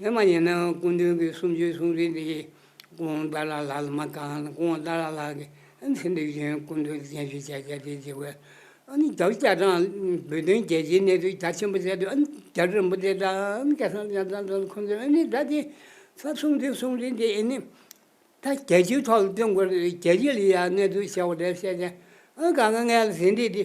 ནི་མ་ཡིན་ན་སྐུ་མདུན་གྱི་གསུང་ཆོས་གསུང་རིགས་འདི་ཀུན་ཏཱ་ལ་ལ་ལ་མ་གང་ན་ཀུན་ཏཱ་ལ་ལ་གི་ཚེ་འདི་བཞིན་སྐུ་མདུན་གྱི་བསྟན་བཅོས་བྱ་བྱ་སྟེ་འཇིགས་པའི་ཨ་ནི་བདག་ཅག་དང་བོད་དོན་རྒྱལ་སྤྱིའི་གནས་ཚུལ་རྒྱ་ཆེན་པོ་བསྩལ་དུས་ཨ་ནི་རྒྱ་རིན་པོ་ཆེ་དང་ཨ་ནི་སྐལ་བཟང་ལྕམ་ཚང་དང་ཁོང་ཚོས་ཨ་ནི་བདག་གི་ཚབ་གསུང་ཆོས་གསུང་རིགས་འདི་ཨ་ནི་ད་རྒྱལ་སྤྱིའི་ཐོག་ལ་སྟོན་དགོས་རེད་རྒྱལ་སྤྱི་ལ་ཡང་གནས་ཚུལ་བཤད་དགོས་དེ་བཤད་ཅིང་ཨ་ནི་གང་གི་ངལ་ལ་ཟིན་འདི་དེ།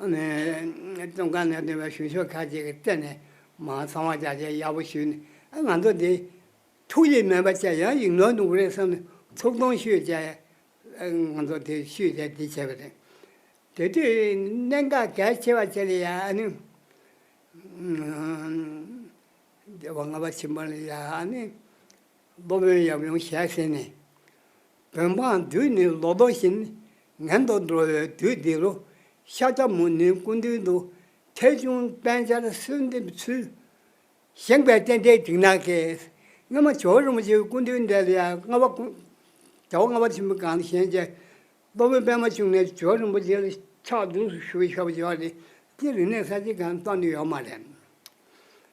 ཨ་ནེ། ཙོང་ཁ་ནས་འདོན་པའི་ཞུ་ཤོག་ཁག་ཅིག་སྤྲད་ནས། མ་ཚང་བ་བྱ་ཆེད་ཡག་པོ་ཞུས་ནས་ཨ་ང་ཚོ་འདི། ཐུགས་རྗེ་མེད་པ་བྱས་ཡང་ཡིག་ནོར་འདུག་རེད་བསམ་ནས་ཐུགས་གདོང་ཞུས་བྱས། ང་ཚོ་དེ་ཞུས་བྱས་འདི་བྱས་པ་རེད། དེ་དུས་གནད་འགག་གལ་ཆེ་བ་བྱས་ལ་ཡ་ཨ་ནེ། ཨ་ནེ། སློབ་དཔོན་ཡབ་ཡུམ་ཞལ་བཞེས་ནས། བོད་འབངས་དུས་ནི་ལོ་ཏོག་བཞིན། ངན་དུ་འགྲོ་བའི་དུས་འདི་རུ། ཤཱཀྱ་མུ་ནེའི་སྐུ་མདུན་དུ། ཐེག་ཆུང་དཔལ་འབྱར་གསོལ་འདེབས་ཚུལ། བཞེངས་པའི་རྟེན་འབྲེལ་འཇིགས་སྣང་སྐྱེས། སྔ་མ་ཇོ་རིན་པོ་ཆེའི་སྐུ་མདུན་འདི་ལ་ཡང་ལྔ་བ་ཀུན། བྱ་བ་ལྔ་པ་ཆེན་པོའི་སྒང་ལ་བཞེངས་རྗེས། སློབ་དཔོན་པདྨ་འབྱུང་གནས་ཇོ་རིན་པོ་ཆེ་ལ་ཕྱག་བདུན་ཞུ་བའི་ཞབས་ཞུ་བ་རེད། སྤྱིར་རིག་གནས་གསར་བརྗེའི་སྒང་ཏོག་འདི་ཡོད་མ་རེད།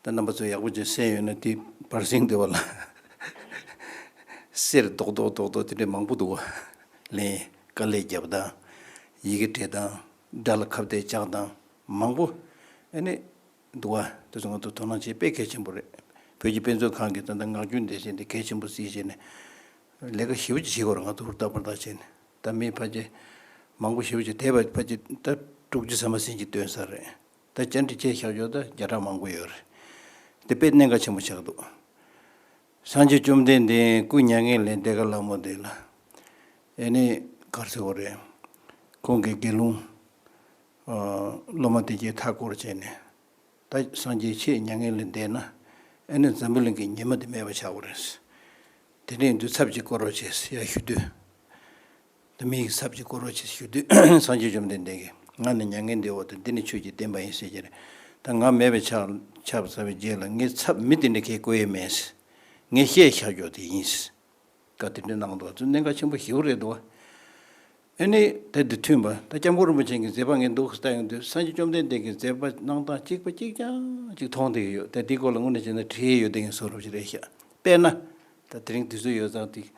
ད་རྣམ་པ་ཚོ་ཡག་པོ་ཅིག་བསྲན་ཡོད་ན་དེ་བར་ཟིང་སྡེ་བ་ལ་གསེར་རྡོག་རྡོག་རྡོག་རྡོག་དེ་འདྲས་མང་པོ་འདུག་ལན། དཀའ་ལས་རྒྱབ་དང། ཡི་གེ་བྲིས་དང། སྒྲ་ལ་ཁ་བརྡས་བཅག་དང། མང་པོ། ཨེ་ནི། འདུག་ཨ། དེ་ཚོ་ང་ཚོ་དོ་སྣང་བྱེད་དཔེ་གལ་ཆེན་པོ་རེད། བོད་ཀྱི་དཔེ་མཛོད་ཁང་གིས་ད་ལྟ་ངག་རྒྱུན་འདེད་བྱེད་འདི་གལ་ཆེན་པོ་བརྩིས་བྱས་ནས། ལས་ཀ་ཞིབ་ཅིག་བྱེད་དགོས་རེད་ང་ཚོ་ཧུར་ཐག་ཧུར་ཐག་བྱས་ནས་ད་མིའི་ཕ་རྗེས་མང་པོ་ཞིབ་ཅིག་དེ་བར་ཕ་རྗེས་ད་དཀྲུག་རྗེས་ཟ་མ་ཟིན་གྱི་སྟོན་ས་རེད། ད་བཅར་འདྲི་བྱའི་ཤར་ཕྱོགས་དང་བརྒྱ་ཕྲག་མང་པོ་ཡོད་རེད། དེ་དཔེ་གནད་འགག་ཆེན་པོ་ཆགས་འདུག། སངས་རྒྱས་བཅོམ་ལྡན་འདས་སྐུ་མྱ་ངན་ལས་འདས་ག་ལ་མོ་འདས་ལ། ཨེ་ནས་གར་ཟེར་བ་རེད། ཁོང་གིས་དགེ་སློང། སློབ་མ་དེ་གའི་མཐའ་བསྐོར་བྱས་ནས། ད་སངས་རྒྱས་ཁྱེད་མྱ་ངན་ལས་འདས་ན། ཨེ་ནས་འཛམ་བུ་གླིང་གི་ཉི་མ་འདི་མེད་པ་ཆགས་པ་རེད། དེ་ནས་འདུས་ཚབ་ཅིག་བསྐོར་བ་བྱས་ཡར་ཞུ་དུས། དུ་མི་ཡི་ཟབ་ཅིང་བཀུར་བར་བྱེད་ཞུ་དུས་སངས་རྒྱས་བཅོམ་ལྡན་འདས་ཀྱིས་ང་ནི་མྱ་ངན་འདས་འོག་ཏུ་འདི་ནི་ཆོས་ཀྱི་བསྟན་པ་ཡིན་ཞེས་ཀྱིས། ད་ང་མེད་པའི་ཆར་བབས་པའི་རྗེས་ལ་ངའི་ཚབ་མི་དེ་འདྲ་ཁྱེད་བཀོལ་ཡས་མེད། ངས་བཤད་ཤ་རྒྱོགས་དེ་ཡིན། བཀའ་དེ་འདྲ་གནང་འདུག་བ་ཚོས་གནད་འགག་ཆེན་པོ་ཞེ་བོ་རེད་འདུག་བ། ཨེ་ནི་དེ་འདི་མཐུན་པ་ད་སྐྱབས་མགོན་རིན་པོ་ཆེ་གི་མཛད་པ་ངས་འདུག་བལྟ་ཡོང་དུས་སངས་རྒྱས་བཅོམ་ལྡན་འདས་ཀྱི་མཛད་པ་གནང་སྟངས་གཅིག་པ་གཅིག་རྐྱང་གཅིག་མཐོང་དེ་ཡོད་དེ་དེའི་སྐོར་ལ་དངོས་གནས་བྱས་ན་བྲིས་ཡོད་དེ་ངས་སོ་རུབ་ཅིག་རེ་བཤད་དཔེར་ན། ད་དེ་རིང་དུས་ཚོད་ཡོད་ཙང་དེ།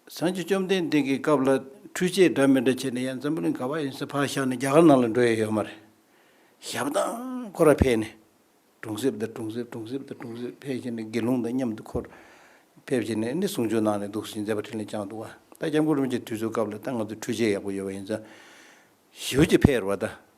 སངས་རྒྱས་བཅོམ་ལྡན་འདས་ཀྱི་སྐབས་ལ་ཁྲུས་ཆས་འདྲ་མི་འདྲ་བྱས་ནས་ཡང་འཛམ་བུ་གླིང་ག་བ་ཡིན་སའི་ཕར་བཞག་ནས་རྒྱ་གར་ནང་ལ་འགྲོ་ཡས་ཡོད་མ་རེད། ཞབས་ཏང་ཁོ་ར་ཕེབས་ནས་གྲོང་གསེབ་དང་གྲོང་གསེབ་གྲོང་གསེབ་དང་གྲོང་གསེབ་ཕེབས་བྱས་ནས་དགེ་སློང་དང་མཉམ་དུ་ཁོར་ཕེབས་བྱས་ནས་ནི་གསུང་ཆོས་གནང་ནས་འདུག་ཟིན་མཛད་པ་ཕྲིན་ལས་བསྐྱངས་འདུག་ད་སྐྱབས་མགོན་རིན་པོ་ཆེ་དུས་ཚོད་སྐབས་ལ་ད་ང་ཚོ་ཁྲུས་ཆས་ཡག་པོ་ཡོད་པ་ཡིན་ས་ཞི་བ་གཅིག་ཕེབས་ར་བ་ད་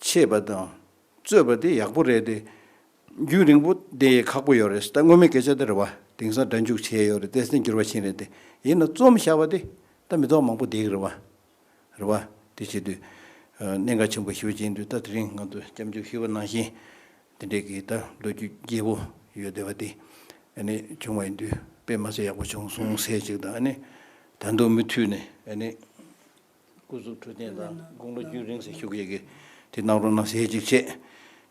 ཆད་པ་དང་རྩོད་པ་དེ་ཡག་པོ་རེད་དེ། རྒྱུན་རིང་པོ་དེ་ཁག་པོ་ཡོད་རེད་ད་སྔོན་མའི་སྐད་ཆ་དེ་རེད་བ། དེང་སང་སྒྲ་འཇུག་བྱས་ཡོད་རེད་དེ་སེམས་འགྱུར་བ་ཆེན་རེད་དེ། ཡིན་ན་རྩོམ་བཞག་པ་དེ་ད་མི་ཚོགས་མང་པོ་བསྡེགས་རེད་བ། རེད་བ། དེ་བྱེད་དུས། གནད་འགག་ཆེན་པོ་ཞིག་བྱེད་དུས་ད་དེ་རིང་ང་ཚོ་སྐྱབས་འཇུག་ཞུས་པ་ནང་བཞིན། དེ་འདྲས་ཀྱི་ད་ལོ་རྒྱུས་རྒྱས་པོ་ཡོད་བསྡད་བ་དེ། ནི་བྱུང་བ་ཡིན་དུས་དཔེ་མ་ཚད་ཡག་པོ་བྱུང་སོང་ཟེར་ཅིག་དང་ནི། ད་འདུག་མི་མཐུད་ནི་ནི། སྐུ་གཟུགས་འཕྲོད་བསྟེན་དང་དགུང་ལོ་བརྒྱུད་རིང་ཟིལ་ཤུགས་ཡེ་གེ་དེ་གནང་རོགས་གནང་ཞེས་ཅིག་བཤད།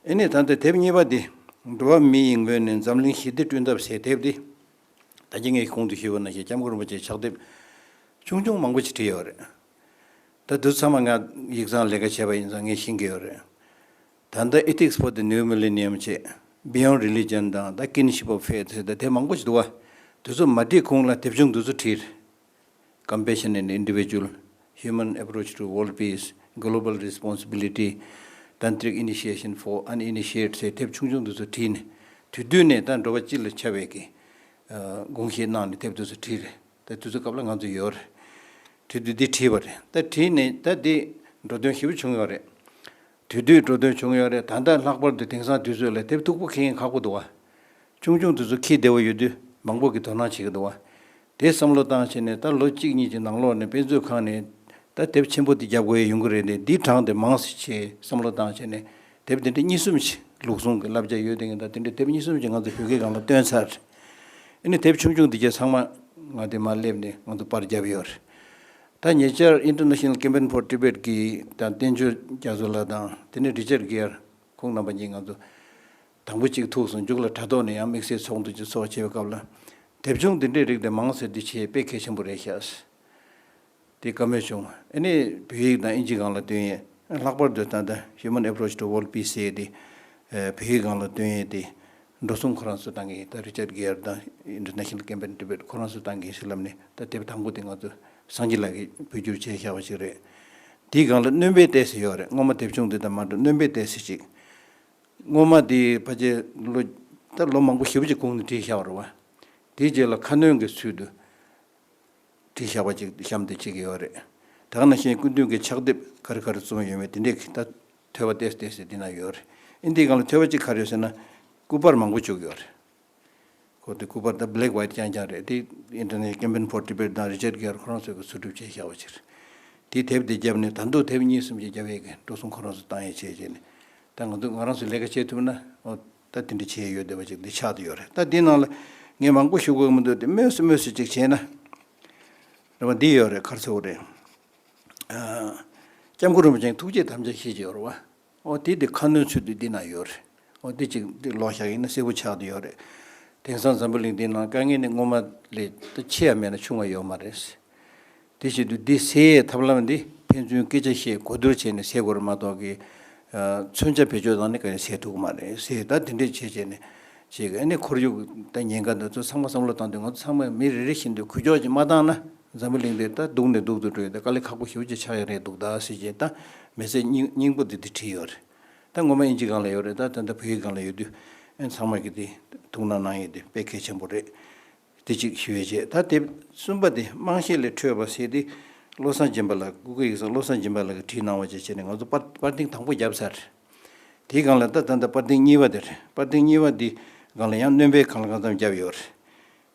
ཨེ་ནས་ད་ལྟ་དེབ་གཉིས་པ་འདི་འགྲོ་བ་མི་ཡི་མགོན་ནས་འཛམ་གླིང་ཞི་བདེ་བསྐྲུན་ཐབས་ཞེས་དེབ་འདི་ད་རྒྱ་ངའི་གུང་དུ་ཞུས་པ་ན་ཞེས་ལྕམ་སྐུ་རིན་པོ་ཆེས་ཕྱག་དེབ་ཆུང་ཆུང་མང་པོ་ཞིག་བྲིས་ཡོད་རེད། ད་བསྡུ་ཚར་མ་ང་ཡིག་ཚང་ལས་ཀ་བྱས་པ་ཡིན་ཙང་ངས་ཤེས་ཀྱི་ཡོད་རེད། ད་ལྟ Ethics for the New Millennium ཅེས Beyond Religion དང་ད Kinship of Faith ཞེས་ད་དེབ་མང་པོ་ཞིག་འདུག་བ། དེ་ཚོ་མ་བྲིས་གོང་ལ་དེབ་ཆུང་འདི་ཚོ་བྲིས། Compassion and Individual Human Approach to World Peace Global Responsibility Tantric Initiation for Uninitiates ཞེས་དེབ་ཆུང་ཆུང་དུ་སུ་བྲིས་ནས་དུས་སྟོད་ནས་ད་འགྲོ་བ་སྤྱི་ལ་ཆ་བས་ཀྱི་དགོངས་བཞེས་གནང་ནས་དེབ་དུ་སུ་བྲིས་རེད་ད་དུས་ཚོད་སྐབས་ལ་ང་ཚོ་ཡོད་རེད་བྲིས་དུས་འདི་བྲིས་བ་རེད་ད་བྲིས་ནས་ད་འདི་འགྲོ་དོན་ཞིབ་པོ་བྱུང་ཡོད་རེད་དུས་འདི་འགྲོ་དོན་བྱུང་ཡོད་རེད་ད་ལྟ་ལྷག་པར་དུ་དེང་སང་དུས་ཚོད་ལ་དེབ་མཐུག་པོ་ཁེངས་ཁག་པོ་འདུག་བ་ཆུང་ཆུང་དུ་སུ་ཁེས་བདེ་བ་ཡོད་དུས་མང་པོ་གི་དོ་སྣང་བྱེད་ཀྱི་འདུག་བ་དེ་བསམ་བློ་བཏང་ཕྱིན་ནས་ད་ལོ་གཅིག་གཉིས་ཀྱི་ནང་ལོགས་ནས་དཔེ་མཛོད་ཁང་ནས་ད་དེབ་ཆེན་པོ་འདི་རྒྱབ་དགོས་ཡ་ཡོང་གི་རེད་ནས་འདིའི་གྲངས་དེ་མང་སྲིད་ཅེས་བསམ་བློ་བཏང་ཕྱིན་ནས་དེབ་དེ་འདྲི་གཉིས་གསུམ་ཞིག་ལུགས་ཟུང་གི་བསླབ་བྱ་ཡོད་དེ་ངས་ད་དེ་འདྲི་དེབ་གཉིས་གསུམ་ཞིག་ང་ཚོ་བོད་སྐད་སྒང་ལ་བཏོན་ཚར་རེད་ཨིནི་དེབ་ཆུང་ཆུང་འདི་བརྒྱད་ཚང་མ་ང་དེ་མ་སླེབས་ནས་ང་ཚོ་པར་བརྒྱབ་ཡོད་རེད་ད་ཉེ་ཆར International Campaign for Tibet གི་དང་བསྟན་འབྱོར་རྒྱ་མཚོ་ལགས་དང་དེ་ནས Richard Gere ཁོང་རྣམ་པ་གཉིས་ང་ཚོ། དང་པོ་གཅིག་ཐུགས་སུ་འཇུག་ལ་དྲ་ཐོག་ནས་ཡང་དམིགས་བསལ་ཚོགས་འདུ་གཅིག་ཚོགས་བྱེད་པའི་སྐབས་ལ། དེབ་ཆུང་འདི་འདྲའི་རིགས་དེ་མང་ཟེར་རྒྱུ་ཆེས་དཔེ་གལ་ཆེན་པོ་རེད་ཤག། དེ་བཀའ་མོལ་བྱུང། ཨེ་ནས་བོད་ཡིག་དང་ཨིན་ཇི་གང་ལ་བཏོན་ཡས་ལྷག་པར་དུ་ད་ལྟ Human Approach to World Peace ཟེར་དེ་བོད་ཡིག་གང་ལ་བཏོན་ཡས་དེ་འགྲོ་གསུམ་ཁོ་རང་ཚོས་གཏང་གིན་ཡིན་ད Richard Gere དང International Campaign Tibet ཁོ་རང་ཚོས་གཏང་གིན་ཡིན་ཟེར་ལབ་ནས་ད་དེབ་དང་པོ་དེ་ང་ཚོ་སངས་རྒྱས་ལགས་ཀྱིས་བོད་སྒྱུར་བྱས་ཤག་པ་ཞིག་རེད། དེའི་སྒང་ལ་སྣོན་དཔེ་བལྟས་ཟེར་ཡོད་རེད་སྔོན་མ་དེབ་ཆུང་འདི་དང་མ་འགྲོ་སྣོན་དཔེ་བལྟས་ཟེར་ཅིག། སྔོན་མ་དེ་ཕ་ཆེ་ལོ་ད་ལོ་མང་པོ་བཞི་བཅུ་གོང་ནས་བྲིས་བཞག་རོགས། དེའི་རྗེས་ལ་ཁ་སྣོན་གྱི་ཚུལ་དུ་བྲིས་བཞག་པ་ཅིག་གཤམ་དུ་བྱེད་ཀྱི་ཡོད་རེད། དག་ན་ཤེས་ཀུན་མཐུན་གྱི་ཕྱག་དེབ་ག་རེ་ག་རེ་རྩོམ་ཡོད་མེད་དེ་འདྲའི་ད་ཐོས་པ་བལྟས་བལྟས་ཟེར་དེ་ན་ཡོད་རེད། ཨིན་དེའི་སྒང་ལ་ཐོས་པ་ཅིག་ག་རེ་ཡོད་ཟེར་ན་སྐུ་པར་མང་པོ་བཅུག་ཡོད་རེད། ཁོ་དེ་སྐུ་པར་དང Black White རྐྱང་རྐྱང་རེད་དེ། International Campaign for Tibet དང Richard Gere ཁོ་རང་ཚོས་ཀྱི་ཚུར་སྒྲུབ་བྱས་བཞག་པ་ཕྱིར། དེའི་དེབ་དེ་བརྒྱབ་ནས་ད་འདུག་དེབ་གཉིས་གསུམ་ཅིག་བརྒྱབ་ཡས་ཀྱི་འགྲོ་སོང་ཁོ་རང་ཚོས་བཏང་ཡས་བྱས་བྱས་ནས་ད་ང་ཚོས་ང་རང་ཚོས་ལས་ཀ་བྱས་ཐུབ་ན་ཨོ། ད་དེ་འདྲ་བྱས་ཡས་ཡོད་བསྡད་པ་ཅིག་འདི་ཆགས་ཏུ་ཡོད་རེད་ད་དེའི་ནང་ལ་ངས་མང་པོ་ཞུ་དགོས་ཀྱི་མི་འདུག་དེ་སྨོས་སུ་སྨོས་སུ་ཅིག་བྱས་ན། རེད་བ་འདི་ཡོད་རེད་མཁར་ཚོགས་རེད། ཨ། སྐྱབས་མགོན་རིན་པོ་ཆེ་ཐུགས་རྗེས་དམ་བཅའ་ཤེས་ཀྱི་ཡོད་རེད་བ། ཨོ་དེ་དེ་ཁ་སྣོན་ཚུལ་དུ་འདི་ན་ཡོད་རེད། ཨོ་དེ་ཅིག་དེ་ལོག་བཞག་ཡིན་ན་གསལ་པོ་ཆགས་ཀྱི་ཡོད་རེད། དེང་སང་འཛམ་བུ་གླིང་འདིའི་ནང་དཀའ་ངལ་ནི་སྔོན་མ་ལས་ད་ཆེ་ཡང་མེད་ན་ཆུང་བ་ཡོད་མ་རེད། དེ་བཞིན་དུ་འདི་སེལ་ཡའི་ཐབས་ལམ་འདི་ཕན་ཚུན་སྐད་ཆ་བཤད་གོ་བསྡུར་བྱས་ནས་སེལ་དགོས་རེད་མ་གཏོགས་ཀྱི། མཚོན་ཆ་བེད་སྤྱོད་བཏང་ནས་ག་རེ་སེལ་ཐུབ་གི་མ་རེད། སེལ་ད་དེ་འདྲས་བྱས་བྱས་ནས་བྱས་ཀྱི་ཨ་ནི་ཁོར་ཡུག་ད་ཉེན་ཁ་འདི་ཚོ་ཚང་མ་བསམ་བློ་བཏང་དུས་ང་ཚོ་ཚང་མས་མི་རེ་རེ་བཞིན་དུ་གུས་ཕྱོགས་ཀྱིས་མ་བཏང་ན། འཛམ་བུ་གླིང་འདིར་ད་སྡུག་ནས་སྡུག་ཏུ་འགྲོ་ཡོད་དེ་དཀའ་ལས་ཁག་པོ་ཞིག་ཅིག་ཆགས་ཡོད་རེད་འདུག་ད་སྲིད་ཅིག་ད་མི་ཚེ་སྙིང་པོ་འདི་འདིར་བྲིས་ཡོད་རེད་ད་ངོ་མ་དབྱིན་ཇིའི་སྒང་ལ་ཡོད་རེད་ད་ད་ད་བོད་ཡིག་སྒང་ལ་ཡོད་དུས་ཨེ་ཚང་མ་གི་དེ་ཐུགས་སྣང་གནང་ཡོད་དེ་དཔེ་གལ་ཆེན་པོ་རེད་དེ་ཅིག་ཞི་བའི་རྗེས་ད་དེ་གསུམ་པ་དེ་དམངས་གཞས་ལས་འཕྲོས་པ་ཟེར་དེ་བློ་བཟང་སྦྱིན་པ་ལགས་ཀུ་ཀུ་ཡིག་ཚང་བློ་བཟང་སྦྱིན་པ་ལགས་ཀྱིས་བྲིས་གནང་བ་བཅས་བྱས་ནས་ང་ཚོ་པར་པར་ལྡིང་དང་པོ་བརྒྱབ་ཚར་རེད་དེའི་སྒང་ལ་ད་ད་ད་པར་ལྡིང་གཉིས་པ་དེ་རེད་པར་ལྡིང་གཉིས་པ་འདིའི་སྒང་ལ་ཡང་སྣོན་སྤེལ་གང་ལ་གང་འཚམ་བརྒྱབ་ཡོད་རེད།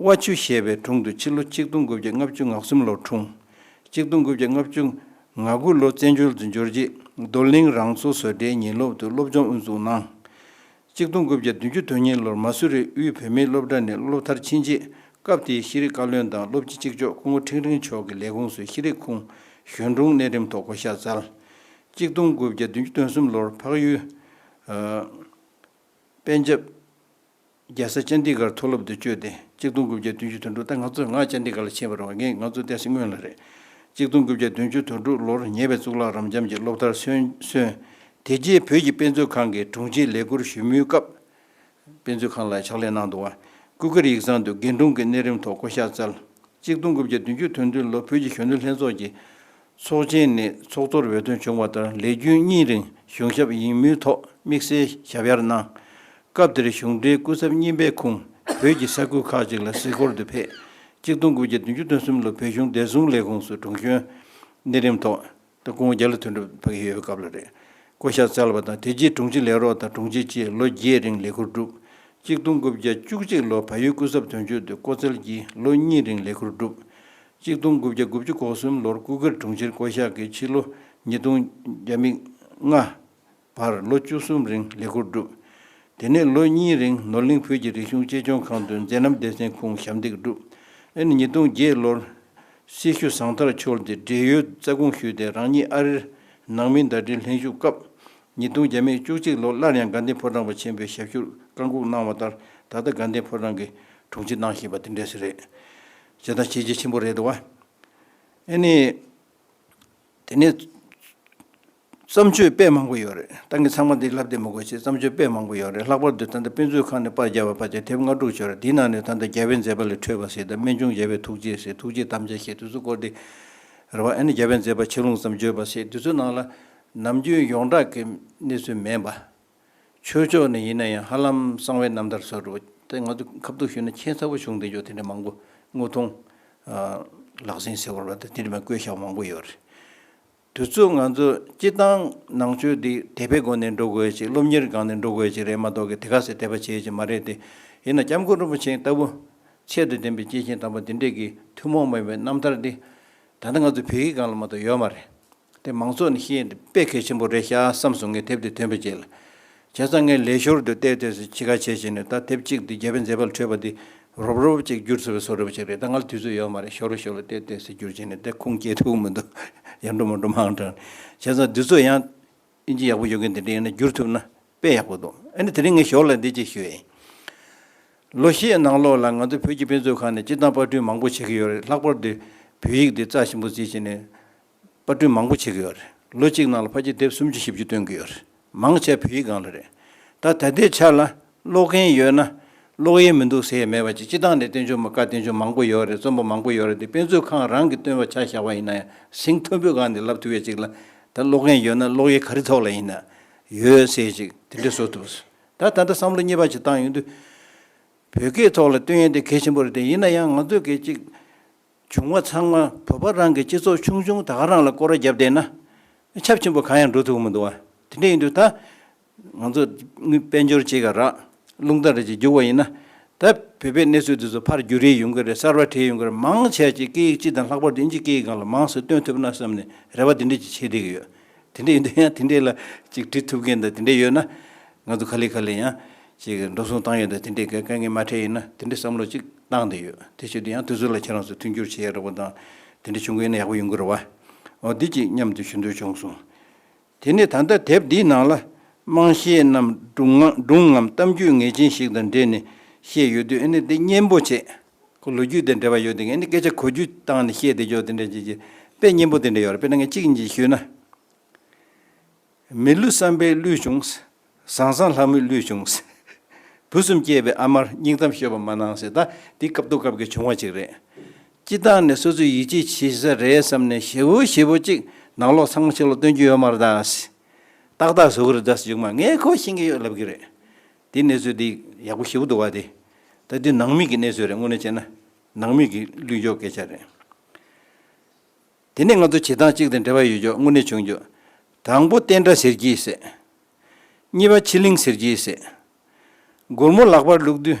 དབའ་ཆུ་ཞེས་པའི་དྲུང་དུ་ཕྱི་ལོ་གཅིག་སྟོང་དགུ་བརྒྱ་ལྔ་བཅུ་ང་གསུམ་ལོར་འཁྲུངས། གཅིག་སྟོང་དགུ་བརྒྱ་ལྔ་བཅུ་ང་དགུ་ལོ་བཙན་བྱོལ་དུ་འབྱོར་རྗེས་རྡོར་གླིང་རང་གཙོ་བཟོ་གྲྭའི་ཉིན་སློབ་ཏུ་སློབ་སྦྱོང་དབུ་འཛུགས་གནང། གཅིག་སྟོང་དགུ་བརྒྱ་བདུན་ཅུ་དོན་གཉིས་ལོར་མ་སུ་རི་དབུས་བུད་མེད་སློབ་གྲྭ་ནས་སློབ་མཐར་ཕྱིན་རྗེས་སྐབས་དེའི་ཤེས་རིག་བཀའ་བློན་དང་སློབ་སྤྱི་གཅིག་ལྕོགས་སྐུ་ངོ་ཁྲེང་རིང་མཆོག་གི་ལས་ཁུངས་སུ་ཤེས་རིག་ཁུངས་གཞོན་དྲུང་གནས་འགྲེམས་ཐོག་བསྐོ་གཞག་སྩལ། གཅིག་སྟོང་དགུ་བརྒྱ་བདུན་ཅུ་དོན་གསུམ་ལོར་འཕགས་ཡུལ། པན་ཇབ། རྒྱལ་སར་སྤྱན་ཏིང་གར་མཐོ་སློབ་དུ་བསྐྱོད་དེ་གཅིག་སྟོང་དགུ་བརྒྱ་བདུན་ཅུ་དོན་དྲུག་ཟླ་ང་ཚོས་སྔར་སྤྱན་ཏིང་གར་ལ་ཕྱིན་པར་བ་ངས་ང་ཚོ་བལྟས་ཚེ་དངོས་ལ་རེད། གཅིག་སྟོང་དགུ་བརྒྱ་བདུན་ཅུ་དོན་དྲུག་ལོར་ཉེ་བའི་གཙུག་ལག་རབ་འབྱམས་ཀྱི་སློབ་མཐར་སོན། དེ་རྗེས་བོད་ཀྱི་དཔེ་མཛོད་ཁང་གི་དྲུང་ཆེའི་ལས་ཁུར་ཞུ་མུས་སྐབས། དཔེ་མཛོད་ཁང་ལ་ཕྱག་ལས་གནང་འདུག་བ་སྐུ་སྒེར་ཡིག་ཚང་དུ་དགེ་འབྲུང་གི་གནས་རིམ་ཐོག་བསྐོ་བཞག་སྩལ། གཅིག་སྟོང་དགུ་བརྒྱ་བདུན་ཅུ་དོན་བདུན་ལོར་བོད་ཀྱི་གཞོན་ནུ་ལྷན་ཚོགས་ཀྱི་ཚོགས་ཆེན་ནི་ཚོགས་གཙོར་འོས་ཐོན་བྱུང་བ་ལྟར་ལས་རྒྱུན་གཉིས་རིང་གཞུང་ཞབས་ཡིན་མུས་ཐོག་དམིགས་བསལ་ཞབས་ཡར་གནང། སྐབས་དེར་གཞུང་འབྲེལ་སྐུ་ཚབ་རྙིང་པའི་ཁུངས་བོད་ཀྱི་ས་ཁུལ་ཁག་ཅིག་ལ་གཟིགས་སྐོར་དུ་ཕེབས། གཅིག་སྟོང་དགུ་བརྒྱ་བདུན་ཅུ་དོན་གསུམ་ལོར་བོད་གཞུང་བདེ་སྲུང་ལས་ཁུངས་སུ་དྲུང་གཞོན། གནས་རིམ་ཐོག་དང་སྐུ་ངོ་བརྒྱ་ལ་ཐོན་གྲབས་ཕ་གི་ཡོད་པའི་སྐབས་ལ་རེད། བསྐོ་གཞག་བསྩལ་བ་དང་དེ་རྗེས་དྲུང་ཆེ་ལས་རོགས་དང་དྲུང་ཆེ་བཅས་ལོ་བརྒྱད་རིང་ལས་ཁུར་བསྒྲུབས། གཅིག་སྟོང་དགུ་བརྒྱ་བཅུ་གཅིག་ལོར་བལ་ཡུལ་སྐུ་ཚབ་དོན་གཅོད་དུ་བསྐོ་བསྩལ་གྱིས་ལོ་གཉིས་རིང་ལས་ཁུར་བསྒྲུབས། གཅིག་སྟོང་དགུ་བརྒྱ་དགུ་བཅུ་གོ་གསུམ་ལོར་སྐུ་སྒེར་དྲུང་ཆེར་བསྐོ་བཞག་གིས་ཕྱི་ལོ་ཉིས་སྟོང་བརྒྱ་མིག་ལྔ་བར་ལོ་བཅུ་གསུམ་རིང་ལས་འཁུར་བསྒྲུབས། དེ་ནས་ལོ་གཉིས་རིང་ནོར་གླིང་བོད་ཀྱི་རིག་གཞུང་གཅེས་སྐྱོང་ཁང་དུ་མཛད་རྣམ་སྡེ་ཚན་ཁུངས་ཞབས་འདེགས་བསྒྲུབས། ཨེ་ནི་ཉིས་སྟོང་བརྒྱད་ལོར་སྲི་ཞུ་བཟང་ཐར་འཆོལ་ཏེ་བགྲེས་ཡོལ་རྩ་དགོངས་ཞུས་ཏེ་རང་ཉིད་ཨ་རིར་ནང་མི་ཟླ་སྒྲིལ་ལྷན་བཞུགས་སྐབས། ཉིས་སྟོང་བརྒྱ་མེད་བཅུ་གཅིག་ལོར་སླར་ཡང་དགའ་ལྡན་ཕོ་བྲང་པ་ཆེན་པོའི་ཞབས་ཞུར་བཀའ་འགུགས་གནང་བ་ལྟར་ད་ལྟ་དགའ་ལྡན་ཕོ་བྲང་གི་དྲུང་ཆེ་གནང་བཞིན་པ་དེ་འདྲས་རེད། བྱས་དང་བྱེད་རྒྱ་ཆེན་པོ་རེད་འདུག་བ། ཨེ་ནི། དེ་ནས། བརྩམས་ཆོས་དཔེ་མང་པོ་ཡོད་རེད་ཏང་གི་ཚང་མ་འདི་ལབ་བསྡད་མི་དགོས་ཆེད་བརྩམས་ཆོས་དཔེ་མང་པོ་ཡོད་རེད་ལྷག་པར་དུ་ད་ལྟ་དཔེ་མཛོད་ཁང་ནས་པར་རྒྱག་པའི་པར་ཆ་དེབ་ལྔ་དྲུག་བྱོས་རེད་དེའི་ནང་ནས་ད་ལྟ་རྒྱལ་བའི་མཛད་པ་ལས་འཕྲོས་པ་ཟེར་དང་རྨད་བྱུང་རྒྱལ་བའི་ཐུགས་རྗེ་ཟེར་ཐུགས་རྗེ་དམ་བཅའ་ཞེས་དུས་ཚོད་སྐོར་འདི། རེད་བ། ཨེ་ནི་རྒྱལ་བའི་མཛད་པ་ཆེ་ལུང་ཙམ་བརྗོད་པ་ཟེར་དུས་ཚོད་ནང་ལ། ནམ་རྒྱུན་ཡོངས་གྲགས་ཀྱི་གནས་ཚུལ་མེད་པ། ཆོས་ཕྱོགས་ནས་ཡིན་ན་ཡང་ཧ་ལམ་གསང་བའི་རྣམ་ཐར་སོགས་རུ་དེ་ང་ཚོས་ཁ་བསྡུར་ཞུས་ན་ཁྱད་མཚར་བོ་བྱུང་བསྡད་ཆོག་དེ་འདྲ་མང་པོ་དངོས་མཐོང། ལག་ཟིན་ཟེར་བ་ལ་དེ་འདྲ་མ་བཀོད་བཞག་མང་པོ་ཡོད་རེད། དུས་ཚོད་ང་ཚོ་སྤྱི་བཏང་ནང་ཆོས་འདི་དད་པའི་སྒོ་ནས་འགྲོ་དགོས་ཅིག་སློབ་གཉེར་སྒང་ནས་འགྲོ་དགོས་ཅིག་རེད་མ་གཏོགས་གི་དེ་ག་ཟེར་དད་པ་བྱེད་ཅིག་མ་རེད་དེ། ཡིན་ན་སྐྱབས་མགོན་རིན་པོ་ཆེ་ལྟ་བུ་ཆེད་དུ་བསྟན་པའི་སྐྱེས་ཆེན་དམ་པ་འདི་འདྲས་ཀྱི་ཐུན་མོང་མ་ཡིན་པའི་རྣམ་ཐར་འདི། ད་ལྟ་ང་ཚོ་བོད་ཡིག་སྒང་ལ་མ་གཏོགས་ཡོད་མ་རེད། དེ་མང་ཚོགས་ནས་ཤེས་ཏེ་དཔེ་གལ་ཆེན་པོ་རེད་ཤག་བསམ་སོང་ངས་དེབ་དེ་ཐོན་པའི་རྗེས་ལ། བྱས་ཙང་ངའི་ལས་ཞོར་དུ་བལྟས་བལྟས་སུ་ཕྱི་དགའ་བྱས་བྱས་ནས་ད་དེབ་གཅིག་འདི་རྒྱལ་བའི་མཛད་པ་ལ་འཕྲོད་པ་འདི་རོབ་རོབ་ཅིག་བསྒྱུར་ཚུལ་བས་སོ་རེ་བ་ཅིག་རེད་ད་ང་ལ་དུས་ཚོད་ཡོད་མ་རེད་ཞོར་ལ་ཞོར་ལ་བལྟས་བལྟས་སུ་བསྒྱུར་བྱས་ནས་དེ་ཁུངས་སྐྱེལ་ཐུབ་མི་འདུག་ཡར་འགྲོ་མར་འགྲོ་མང་དྲགས་ནས། བྱས་ཙང་དུས་ཚོད་ཡང། དབྱིན་ཇི་ཡག་པོ་ཡོད་མཁན་དེ་འདྲ་ཡིན་ན་བསྒྱུར་ཐུབ་ན་དཔེ་ཡག་པོ་འདུག་ཨ་ནི་དེ་རིང་ངས་ཞོར་ལ་འདི་གཅིག་ཞུས་ཨེ། ལོ་ཤས་ནང་ལོགས་ལ་ང་ཚོ་བོད་ཀྱི་དཔེ་མཛོད་ཁང་ནས་སྤྱི་བཏང་དཔར་སྐྲུན་མང་པོ་བྱེད་ཀྱི་ཡོད་རེད་ལྷག་པར་དུ་བོད་ཡིག་འདི་རྩ་ཆེན་པོ་བརྩི་བྱས་ནས། པར་སྐྲུན་མང་པོ་བྱེད་གི་ཡོད་རེད། ལོ་གཅིག་ནང་ལ་ཕ་སྐྱིད་དེབ་སུམ་ཅུ་བཞི་བཅུ་བཏོན་གི་ཡོད་རེད། མང་ཆེ་བོད་ཡིག་སྒང་ལ་རེད། ད་ད་ལྟའི་ཆར་ལ་ཀློག་མཁན་ཡོད་ན་ཀློག་ཡས་མི་འདུག་ཟེར་ཡས་མེད་པ་ཅིག་སྤྱི་བཏང་ནས་བསྟན་བཅོས་མ་དཀར་བསྟན་བཅོས་མང་པོ་ཡོད་རེད་རྩོམ་པ་མང་པོ་ཡོད་རེད་དེ་དཔེ་མཛོད་ཁང་རང་གི་བཏོན་པ་ཆ་བཞག་པ་ཡིན་ན་ཡང་ཟིང་མཐོན་པོའི་སྒང་ནས་ལབ་ཐུབ་ཡས་ཅིག་ལ་ད་ཀློག་མཁན་ཡོད་ན་ཀློག་ཡས་ག་རི་ཐོག་ལ་ཡིན་ན་ཡོད་ཟེར་ཅིག་དེ་འདྲས་བཟོ་ཐུབ། ད་ད་ལྟ་བསམ་བློ་གཉིས་པ་ཅིག་བཏང་ཡོང་དུས། བོད་སྐད་ཐོག་ལ་བཏོན་ཡས་དེ་གལ་ཆེན་པོ་རེད་དེ་ཡིན་ན་ཡང་ང་ཚོས་གལ་ཅིག། བྱུང་བ་ཚང་མ་བོད་པ་རང་གི་སྤྱི་ཚོགས་ཆུང་ཆུང་ད་ག་རང་ལ་སྐོར་བརྒྱབ་བསྡད་ན་ཁྱབ་ཆེན་པོ་གང་ཡང་འགྲོ་ཐུབ་མི་འདུག་དེ་འདྲ་ཡིན་དུས་ད་ང་ཚོ་དཔལ་འབྱོར་བྱེད་ག་རག་རླུང་རྟ་རེད་ཅེས་རྒྱུག་བ་ཡིན་ན་ད་བོད་པའི་གནས་ཚུལ་འདི་ཚོ་ཕར་རྒྱུག་རེ་ཡོང་གི་རེད་གསར་བ་བྲིས་ཡོང་གི་རེད་མང་ཆེ་བ་ཅིག་སྐད་ཡིག་སྤྱི་དང་ལྷག་པར་དུ་དབྱིན་ཇི་སྐད་ཡིག་སྒང་ལ་མང་སེ་སྟོན་ཐུབ་ན་བསམ་ནས་རེ་བ་འདི་འདྲ་ཅིག་བྱེད་བསྡད་ཀྱི་ཡོད་དེ་འདྲས་ཡོད་དུས་ཡང་དེ་འདྲས་ལ་ཅིག་འབྲི་ཐུབ་མཁན་དང་དེ་འདྲས་ཡོད་ན། ང་ཚོ་ཁ་ལས་ཁ་ལས་ཡང་ཅིག་འགྲོ་སོང་བཏང་ཡོད་དུས་དེ་འདྲས་དཀའ་ངལ་མ་འཕྲད་ཡོད་ན་དེ་འདྲས་བསམ་བློ་ཅིག་བཏང་དེ་ཡོད་དེ་བྱས་དུས་ཡང་དུས་ཚོད་ལ་ཁྱེད་རང་ཚོས་མཐུན་འགྱུར་བྱེད་ཡག་རག་པོ་དང་དེ་འདྲས་བྱུང་གི་ཡོད་ན་ཡག་པོ་ཡོང་གི་རེད་བ། འོ་འདི་ཅིག་མཉམ་དུ་ཞུ་འདོད་བྱུང་སོང། དེ་ནས་ད་ལྟ་དེབ་འདིའི་ནང་ལ་དམངས་གཞས་རྣམས་སྒྲུང་ངམ་གཏམ་རྒྱུད་ངེས་ཅན་ཞིག་དང་འབྲེལ་ནས་བཤད་ཡོད་དུས་ཨེ་ནས་དེ་སྙན་པོ་བྱེད། ཁོ་ལོ་རྒྱུས་དེ་འདྲ་བ་ཡོད་དེ་ངས་ནི་སྐད་ཆ་གོ་རྒྱུ་བཏང་ནས་བཤད་དེ་ཅོག་དེ་འདྲ་བྱེད་ཀྱི་དཔེ་སྙན་པོ་དེ་འདྲ་ཡོད་རེད་དཔེར་ན་ངས་གཅིག་གཉིས་ཞུས་ན། མི་ལུས་བསམ་པའི་གླུས་བྱུང། བཟང་བཟང་ལྷ་མོའི་གླུས་བྱུང། བུ་གསུམ་སྐྱེས་པའི་ཨ་མར་སྙིང་གཏམ་ཤོད་པ་མ་གནང་ཟེར་ད་འདི་སྐབས་ཐུག་སྐབས་ཀྱི་བྱུང་བ་ཅིག་རེད། སྤྱི་བཏང་ནས་སོ་སོའི་ཡིད་ཆེས་བྱེད་ས་རེད་བསམ་ནས་ཞེ་བོ་ཞེ་བོ་གཅིག་ནང་ལོག་ཚང་མ་ཕྱི་ལོག་སྟོན་རྒྱུ་ཡོད་མ་རེད་ད། ཏག་ཏག་བཟོ་གི་རེད་ད་སུ་ཅིག་མ་ངས་ཁོ་ཤེས་ཀྱི་ཡོད་ལབ་ཀྱི་རེད། དེའི་གནས་ཚུལ་འདི་ཡག་པོ་ཞིབ་པོ་འདུག་བ་དེ། ད་འདི་ནང་མི་གི་གནས་ཚུལ་རེད་དངོས་གནས་བྱས་ན། ནང་མི་གི་ལུས་འཇོག་སྐད་ཆ་རེད། དེ་ནས་ང་ཚོ་བྱེད་སྟངས་གཅིག་དང་འབྲེལ་བ་ཡོད་འཇོག་དངོས་གནས་བྱུང་འཇོག། དང་པོ་བསྟན་དགྲ་ཟེར་གྱིས་ཟེར། གཉིས་པ་ཕྱི་གླིང་ཟེར་གྱིས་ཟེར། སྒོར་མོ་ལག་པར་བླུགས་དུས་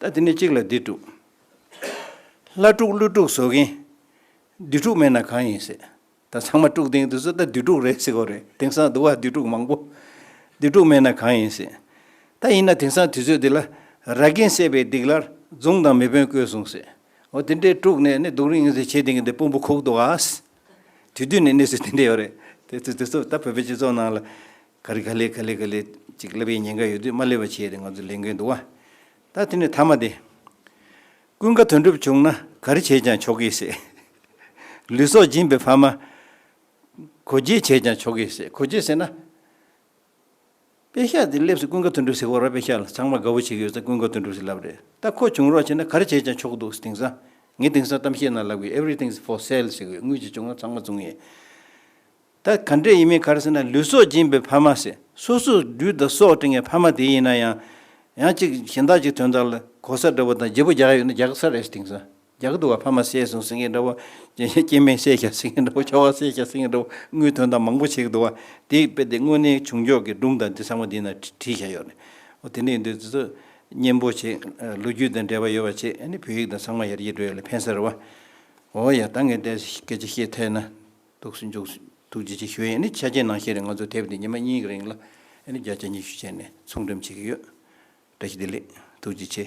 ད་འདི་ནས་གཅིག་ལ་འདི་དཀྲུགས། ལྷ་དཀྲུགས་ཀླུ་དཀྲུགས་བཟོ་མཁན། བདུད་དཀྲུགས་མེད་ན་གང་ཡིན་སྲིད། ད་ཚང་མ་དཀྲུགས་དེང་དུས་སུ་ད་བདུད་དཀྲུགས་རེད་སྲིད་གོ་རེད་དེང་སང་དུ་བ་བདུད་དཀྲུགས་མང་པོ། བདུད་དཀྲུགས་མེད་ན་གང་ཡིན་སྲིད། ད་ཡིན་ན་དེང་སང་དུས་ཚོད་འདི་ལ། ར་གན་བསད་པའི་སྡིག་སླར་རྫུངས་དང་མི་དཔོན་བསྐོས་གསུངས་སྲིད། འོ་དེ་འདྲའི་དཀྲུགས་ནས་ནི་སྡུག་རིངས་ཟེར་བྱེད་དེང་གི་འདི་དཔོན་པོ་ཁུག་འདུག་ཨ། དུས་དུས་ནས་གནས་ཚུལ་དེ་འདྲ་ཡོད་རེད། དེ་ཚོ་དེ་ཚོ་ད་བོད་པའི་སྤྱི་ཚོགས་ནང་ལ། ག་རེ་ག་ལེ་ག་ལེ་ག་ལེ། ཅིག་བསླབ་པའི་ཉེན་ཁ་ཡོད་དུས་མ་བསླེབ་པ་བྱས་ཏེ་ང་ཚོ་ལེན་དགོས་འདུག་ཨ། ད་དེ་ནི་ཐ་མ་སྟེ། ཀུན་དགའ་དོན་གྲུབ་བྱུང་ན་ག་རེ་བྱས་ཀྱང་ཆོག་གི་སེ། ལུས་སྲོག་སྦྱིན་པའི་ཕ་མ། གོ་བརྗེ་བྱས་ཀྱང་ཆོག་གི་སེ་གོ་བརྗེ་ཟེར་ན། དཔེ་ཤག་དེ་བསླེབས་སེ་ཀུན་དགའ་དོན་གྲུབ་སེ་ཧོ་ར་དཔེ་ཤག་ལ་ཚང་མ་དགའ་བོ་བྱེད་ཀྱི་ཡོད་ས་ཀུན་དགའ་དོན་གྲུབ་སེ་ལབ་རེད་ད་ཁོ་བྱུང་རོགས་བྱས་ན་ག་རེ་བྱས་ཀྱང་ཆོག་གི་འདུག་དེང་སང་ངའི་དེང་སང་གཏམ་བཤད་ནང་ལབ་གི everything is for sale ཞེས་གི་དངུལ་གྱི་བྱུང་ན་ཚང་མ་བཙུགས་ངེས། ད་ག་འདྲེ་ཡིན་མིན་གར་ཟེར་ན་ལུས་སྲོག་སྦྱིན་པའི་ཕ་མ་ཟེར་སོ་སོས་སྦྲུལ་དང་སྲོག་སྤྲིང་བའི་ཕ་མ་དེ་ཡིན་ན་ཡང། ཡང་གཅིག་གཞན་དག་ཅིག་དོན་དག་ལ་གོ་ས་འདྲ་བོ་དང་བརྗེ་པོ་རྒྱག་ཡོད་ན་རྒྱག་ས་རེད་དེང་སང་རྒྱག་འདུག་བ་ཕ་མ་བསད་སོང་ཟེར་མཁན་འདྲ་བོ། སྐྱེས་དམན་བསད་བཞག་ཟེར་མཁན་འདྲ་བོ་ཁྱོ་བ་བསད་བཞག་ཟེར་མཁན་འདྲ་བོ་དངུལ་དོན་དག་མང་པོ་བྱེད་ཀྱི་འདུག་བ་དེ་ཡི་དཔེ་དེ་དངོས་གནས་བྱུང་ཕྱོགས་ཀྱི་སྒྲུང་དང་དེ་ཚང་མ་འདི་ན་བྲིས་བཞག་ཡོད་རེད། འོ་དེ་འདྲ་ཡིན་དུས་ཚོད་ཚོད་སྙན་པོ་བྱེད། ལོ་རྒྱུས་དང་འབྲེལ་བ་ཡོད་པ་བྱེད་ཨ་ནི་བོད་ཡིག་དང་ཚང་མ་ཡར་རྒྱས་འགྲོ་ཡོད་ལ་ཕན་ས་རེད་བ། འོ་ཡ་ད་ངས་སྐད་ཆ་བཤད་ཐལ་ན། ཐུགས་སུ་འཇུག། ཐུགས་རྗེ་ཆེ་ཞུ་ཡིས་ནི་ཆ་རྐྱེན་ནང་བཤད་རིང་ང་ཚོ་དེབ་འདི་ཉི་མ་གཉིས་ཀྱི་རིང་ལ་ནི་བརྒྱ་ཆ་ཉི་ཤུ་བྱས་ནས་ཚོང་འགྲེམས་བྱེད་ཀྱི་ཡོད། བཀྲ་ཤིས་བདེ་ལེགས། ཐུགས་རྗེ་ཆེ།